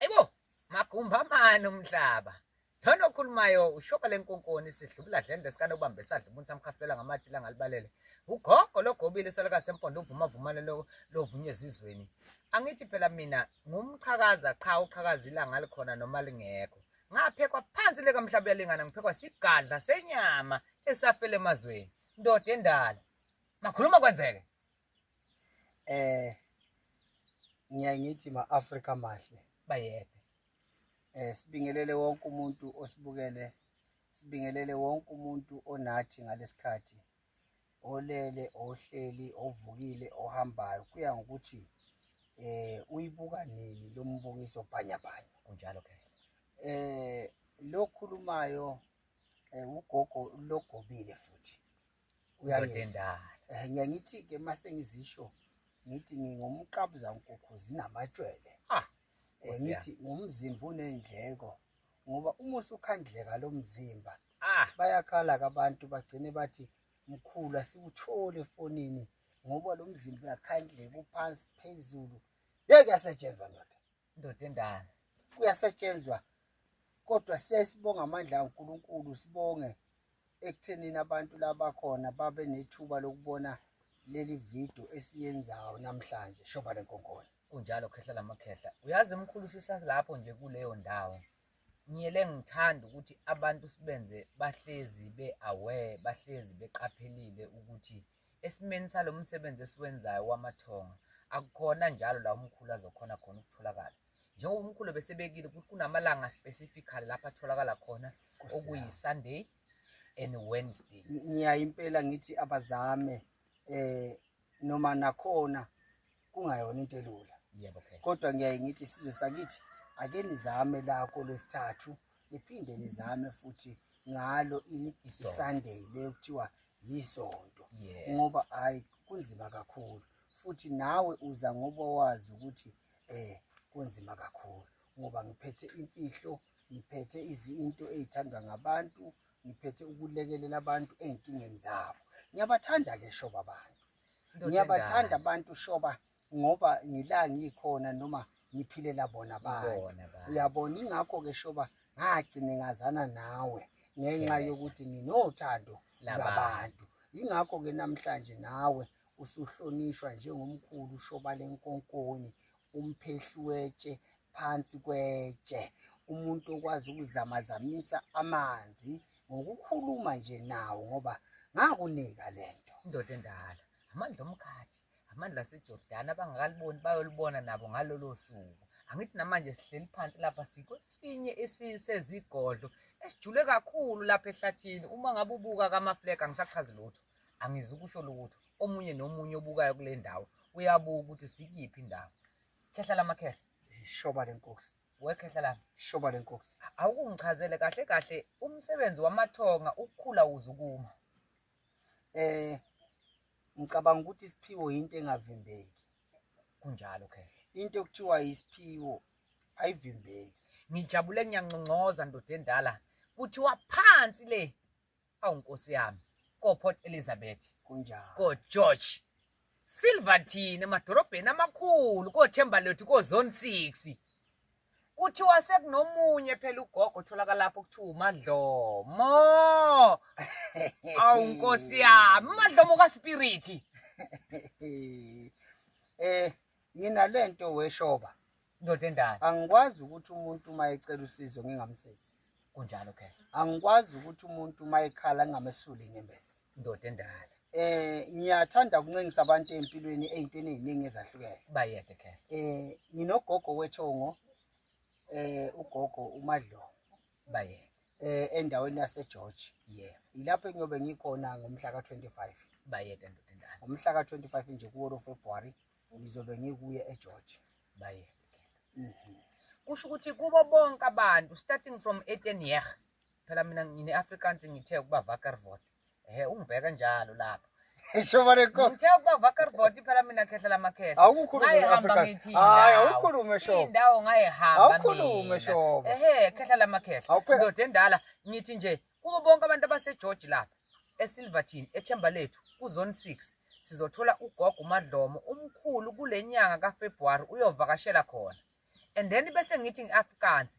Ayibo, magumba mani umhlaba. Lona okhulumayo ushoba lenkonkoni sidlubula dlende sikane ubambe sadla umuntu samkhafulela ngamathi la ngalibalele. Ugogo logobile selaka sempondo uvuma vumane lo lovunye ezizweni. Angithi phela mina ngumqhakaza qha uqhakaza ilanga likhona noma lingekho. Ngaphekwa phansi leka mhlaba uyalingana ngiphekwa sigadla senyama esafele emazweni. Ndoda endala. Makhuluma kwenzeke. eh ngiyaye ngithi ma-afrika mahle bayede eh sibingelele wonke umuntu osibukele sibingelele wonke umuntu onathi ngalesikhathi olele ohleli ovukile ohambayo kuya ngokuthi eh uyibuka nini lo mbukiso bhanyabhanya kunjalo ke eh lokhulumayo eh ugogo logobile futhi uyangizwa eh ngiya ngithi ke mase ngizisho ngithi ngingumqabuza nkukhu zinamatshwele ah eh, ngithi ngumzimba unendleko ngoba uma usukhandleka lo mzimba ah bayakhala abantu bagcine bathi mkhulu asikuthole efonini ngoba lo mzimba uyakhandleka uphansi phezulu yeke yasetshenzwa ndoda Ndoda endala. Kuyasetshenzwa kodwa siyayisibonga amandla kaNkulunkulu sibonge ekuthenini abantu labakhona babe nethuba lokubona leli video esiyenzayo namhlanje shoba lenkonkolo kunjalo khehla lamakhehla uyazi mkhulu sisalapho nje kuleyo ndawo ngiyele ngithanda ukuthi abantu sibenze bahlezi be-aware bahlezi beqaphelile ukuthi Esimeni salo msebenzi esiwenzayo wamathonga akukhona njalo la umkhulu azokhona khona ukutholakala njengoba umkhulu besebekile ukuthi kunamalanga specifically lapho atholakala khona okuyi-sunday and wednesday ngiyaye impela ngithi abazame um noma nakhona kungayona into elula yebo okay kodwa ngiyaye ngithi sizwe sakithi ake nizame lakho lwesithathu niphinde nizame futhi ngalo ini isunday le kuthiwa yisonto ngoba hayi kunzima kakhulu futhi nawe uza ngoba wazi ukuthi eh kunzima kakhulu ngoba ngiphethe imfihlo ngiphethe izinto ezithandwa ngabantu ngiphethe ukulekelela abantu ezinkingeni zabo ngiyabathanda ke shoba abantu ngiyabathanda abantu shoba ngoba ngila ngikhona noma ngiphilela bona bantu uyabona ingakho-ke shoba ngagcine ngazana nawe ngenxa yokuthi nginothando labantu yingakho-ke namhlanje nawe usuhlonishwa njengomkhulu shoba lenkonkoni umphehluwetshe phansi kwetshe umuntu okwazi ukuzamazamisa amanzi ngokukhuluma nje nawo ngoba ngakunika le nto indoda endala amandla omkhathi amandla asejordani abangakaliboni bayolibona nabo ngalolo suku angithi namanje sihleli phansi lapha sikwesinye esisezigodlo esijule kakhulu lapha ehlathini uma ngabe ubuka kamafleka angisachazi lutho angizi ukusho lutho omunye nomunye obukayo kule ndawo uyabuka ukuthi sikiphi indawo khehla lamakhehla shoba lenkosi wekhehla lami shoba lenkosi awukungichazele kahle kahle umsebenzi wamathonga ukukhula uzukuma eh ngicabanga ukuthi isiphiwo into engavimbeki kunjalo khehla into okuthiwa isiphiwo ayivimbeki ngijabule ngiyanconcoza ndoda endala kuthiwa phansi le awu nkosi yami koport elizabeth kunjani kogeorge silverton emadorobheni amakhulu kothemba lethu kozone six kuthiwa sekunomunye phela ugogo otholakala lapho kuthiwa umadlomo awu nkosi yami umadlomo kaspiriti um eh, Nginalento weshoba. Ndoda endala. Angikwazi ukuthi umuntu uma ecela usizo ngingamsizi. Kunjalo ke. Angikwazi ukuthi umuntu uma ekhala ngingamesuli inyembezi. Ndoda endala. Eh ngiyathanda ukuncengisa abantu empilweni ezintweni eziningi ezahlukene. Bayede ke. Eh nginogogo wethongo eh ugogo uMadlo. bayede eh endaweni yase George yeah ilapho engiyobe ngikhona ngomhla ka25 bayede ndoda endala ngomhla ka25 nje kuwo lo February ngizobe ngikuye eGeorge bayede mhm kusho ukuthi kubo bonke abantu starting from Etenier phela mina ngine Afrikaans ngithe ukuba Vakarvoort Ehe ungibheka njalo lapho. Shobane ko. Ngithe ukuba vakar voti phela mina khehla lamakhehla. Awukhulumi ngayihamba ngithi. Hayi awukhulumi shobo. Indawo ngayihamba. Awukhulumi shobo. Ehe khehla lamakhehla. Ndoda endala ngithi nje kubo bonke abantu abaseGeorge lapha eSilverton ethemba lethu kuzone 6 sizothola ugogo uMadlomo umkhulu kulenyanga kaFebruary uyovakashela khona. And then bese ngithi ngiAfrikaans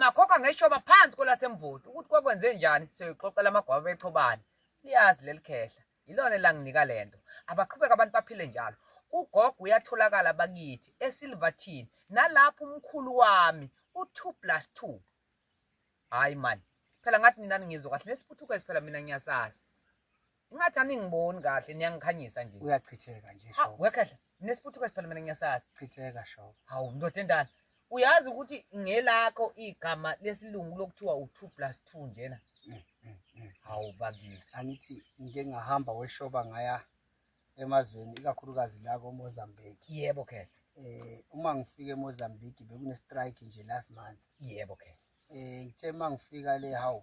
Makhokha ngeshoba phansi kwelasemvoti ukuthi kwakwenze njani siyoyixoxela amagwaba bexhobane. Liyazi leli khehla. Yilona elanginika le nto. Abaqhubeka abantu baphile njalo. Ugogo uyatholakala bakithi eSilverton nalapho umkhulu wami u2 plus 2. Hayi man. Phela ngathi nina ningizwa kahle nesiphuthukezi phela mina ngiyasazi. Ingathi aningiboni kahle niyangikhanyisa nje. Uyachitheka nje Ha, sho. wekhehla. Nesiputhu kwesiphela mina ngiyasazi. Chitheka sho. Hawu ndoda endala. Uyazi ukuthi ngelakho igama lesilungu lokuthiwa u2 plus 2 njena. Mm, mm, mm. Hawu bakithi. Angithi ngike ngahamba weshoba ngaya emazweni ikakhulukazi la koMozambique. Yebo khehla. Eh uma ngifika eMozambique bekune strike nje last month. Yebo khehla. Eh ngithe uma ngifika le hawu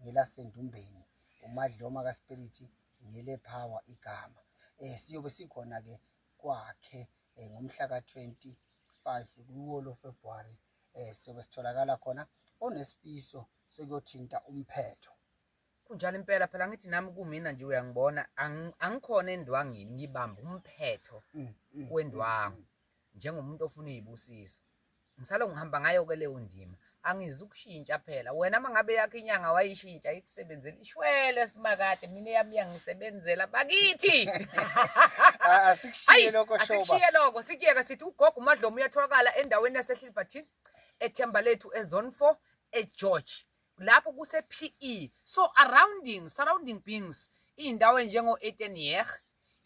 ngelasendumbeni umadloma kaspiriti ngelephawa igama um siyobe sikhona-ke kwakhe um ngomhla ka-25 kuwo lo februwari um eh, siyobe sitholakala khona onesifiso sekuyothinta umphetho kunjalo impela phela ngithi nami kumina nje uyangibona angikhona endwangini ngibamba umphetho mm, mm, wendwangu mm, njengomuntu ofuna izibusiso ngisalo ngihamba ngayo ke leyo ndima angizukushintsha phela wena uma ngabe yakho inyanga wayishintsha ikusebenzela ishwele simakade mina eyami yangisebenzela bakithi asikushiye lokho shoba asikushiye lokho sikuyeke sithi ugogo umadlomo uyatholakala endaweni yaseHilverton ethemba lethu ezone 4 eGeorge lapho kuse PE so surrounding surrounding beings indawo enjengo Etenier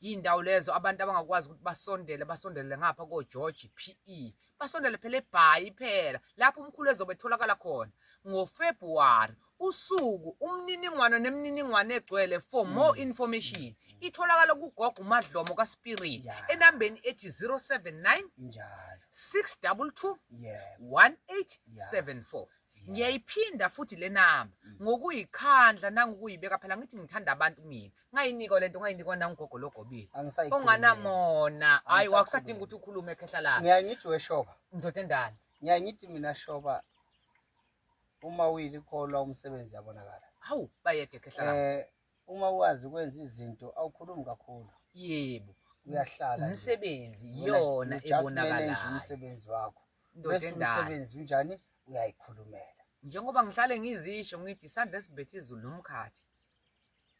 indawo lezo abantu abangakwazi ukuthi basondele basondele ngapha ko George PE basondele phela ebhayi phela lapho umkhulu ezobe etholakala khona ngo February usuku umniningwane nemininingwane egcwele for mm. more information mm. itholakala kugogo umadlomo kaspirit enambeni ethi 079 njalo 622 yeah 1874 ngiyayiphinda futhi le namba mm. ngokuyikhandla nangokuyibeka phela ngithi ngithanda abantu mina ngayinikwa lento ngayinikwa nangugogo logobile onganamona hayi wakusadinga ukuthi ukhulume ekhehla lakhe ngiyaye ngithi weshoba ndoda endala ngiyaye ngithi mina shoba uma uyilikholwa umsebenzi yabonakala hawu bayede ekhehla lakhe eh, uma wazi ukwenza izinto awukhulumi kakhulu yebo uyahlala umsebenzi yona ebonakalayo umsebenzi wakho bese umsebenzi unjani uyayikhulumela njengoba ngihlale ngizisho ngithi isandla esibethe izulu nomkhathi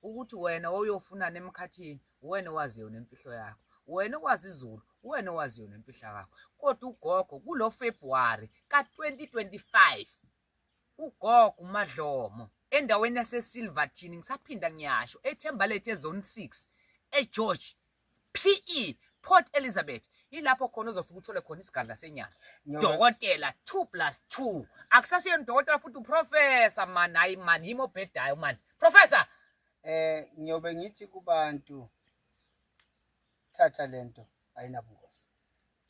ukuthi wena oyofunana emkhathini wena owazi yona imfihlo yakho wena owazi izulu wena owazi yona imfihlo yakho kodwa ugogo kulo February ka 2025 ugogo umadlomo endaweni yasesilverton ngisaphinda ngiyasho ethembalethe ezone 6 egeorge pe port elizabeth yilapho khona ozofika uthole khona isigadla senyama Ngiyobe- dokotela 2 plus 2 akusasiyona udokotela futhi uprofesa mani hayi mani yimi obhedayo mani profesa eh ngiyobe ngithi kubantu thatha lento ayinabungozi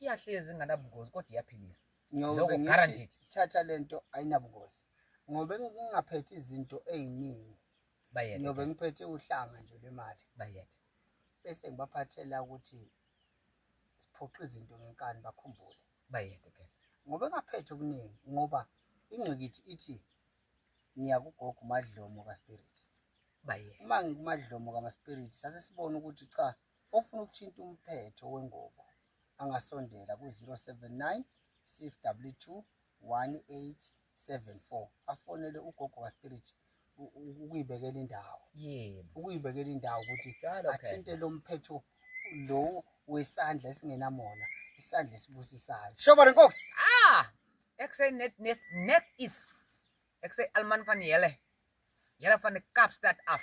iyahlezi inganabungozi kodwa iyaphiliswa ngoba ngithi thatha lento ayinabungozi ngoba ngingaphethe izinto eziningi bayethe ngoba ngiphethe uhlanga nje lemali bayethe bese ngibaphathela ukuthi siphoqa izinto ngenkani bakhumbule bayethe ke ngoba ngaphethe okuningi ngoba ingqikithi ithi ngiyakugoga umadlomo kaspirit bayethe uma ngikumadlomo kamaspirit sase sibona ukuthi cha Ofuna ukuthinta umphetho wengubo angasondela ku-079 622 1874 afonele ugogo kaSpirit ukuyibekela indawo yebo ukuyibekela indawo ukuthi athinte lo mphetho lo wesandla esingenamona isandla esibusisayo shoba lenkosi ah ekse net net net it's ekse alman van yele yele van de kapstad af